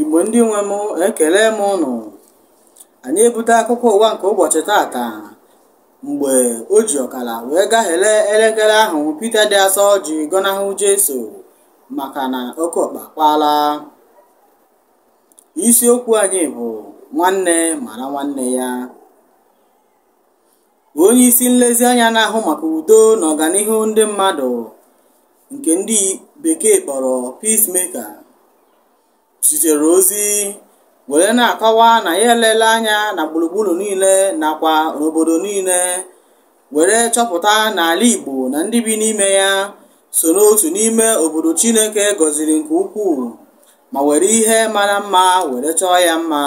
igbo ndị nwe m ekele m ụnụ anyị ebute akụkọ ụwa nke ụbọchị tata mgbe o ji ọkara wee gaghele elekere ahụ pita dị asọ ji gọnahụ jesu maka na oke ọkpa kpaala isiokwu anyị bụ nwanne mara nwanne ya onye isi nlezianya na-ahụ maka udo na ọganihu ndị mmadụ nke ndị bekee kpọrọ peacemaker zitere ozi were na-akọwa na ya elele anya na gburugburu niile nakwa n'obodo niile were chọpụta na ala Igbo na ndị bi n'ime ya so n'otu n'ime obodo Chineke gọziri nke ukwuu ma were ihe mara mma were chọọ ya mma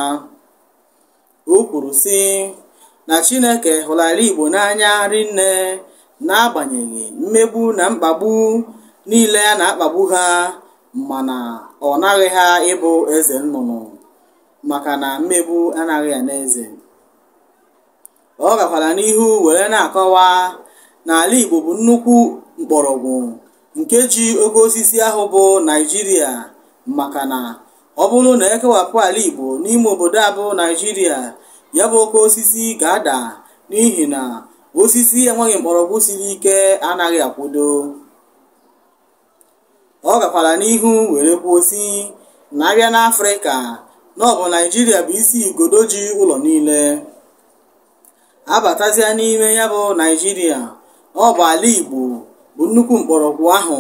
o kwuru sị na Chineke hụrụ ala Igbo n'anya rinne n'agbanyeghị mmegbu na mkpagbu niile a na-akpagbu ha mana ọ naghị ha ịbụ eze nnụnụ maka na mmegbu anaghị ana eze ọ gakwara n'ihu were na-akọwa na ala Igbo bụ nnukwu mkpọrọgwụ nke ji oke osisi ahụ bụ Naịjirịa maka na ọ bụrụ na e kewapụ ala Igbo n'ime obodo a bụ Naịjirịa ya bụ oke osisi ga-ada n'ihi na osisi enweghị mkpọrọgwụ siri ike anaghị akwụdo ọ gakwara n'ihu were kwuo sị na a bịa n'Afrịka na ọ bụ Naịjirịa bụ isi igodo ji ụlọ niile a batazia n'ime ya bụ Naịjirịa na ọ bụ ala Igbo bụ nnukwu mkpọrọgwụ ahụ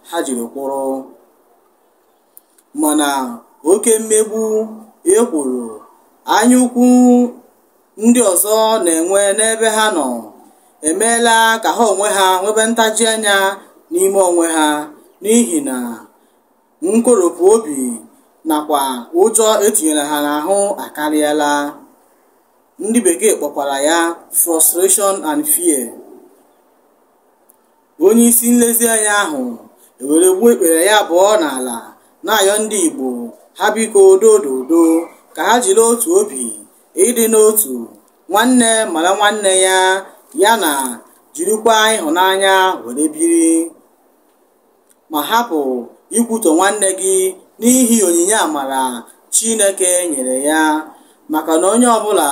ha jiri kwụrụ mana oke mmegbu ekworo anyaukwu ndị ọzọ na-enwe n'ebe ha nọ emeela ka ha onwe ha nwebe ntaji anya n'ime onwe ha n'ihi na nkoropụ obi nakwa ụjọ e tinyere ha n'ahụ akarịala ndị bekee kpọkwara ya frustration and fear onye isi nlezianya ahụ ewere gbuo ikpere ya abụọ n'ala na-ayọ ndị Igbo ha biko dododo ka ha jiri otu obi ịdị n'otu nwanne mara nwanne ya ya na jirikwa ịhụnanya were biri ma hapụ ikwutọ nwanne gị n'ihi onyinye amara Chineke nyere ya maka na onye ọbụla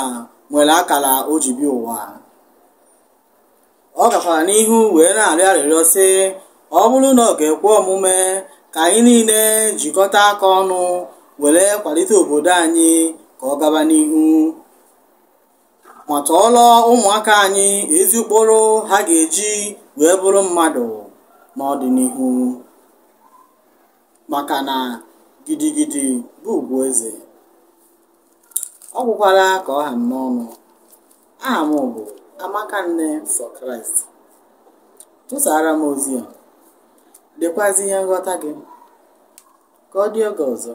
nwere akara o ji bịa ụwa ọ gakwara n'ihu wee na-arịọ arịrịọ sị ọ bụrụ na ọ ga-ekwe omume ka anyị niile jikọta aka ọnụ were kwalite obodo anyị ka ọ gaba n'ihu ma tọọlọ ụmụaka anyị ezi ụkpụrụ ha ga-eji wee bụrụ mmadụ n'ọdịnihu maka na gidigidi bụ ugwu eze ọ gwụkwara ka ọ ha m n'ọnụ aha m bụ amaka nne for christ tụsaara m ozi a dekwazi ihe nghọta gị ka ọ dị oge ọzọ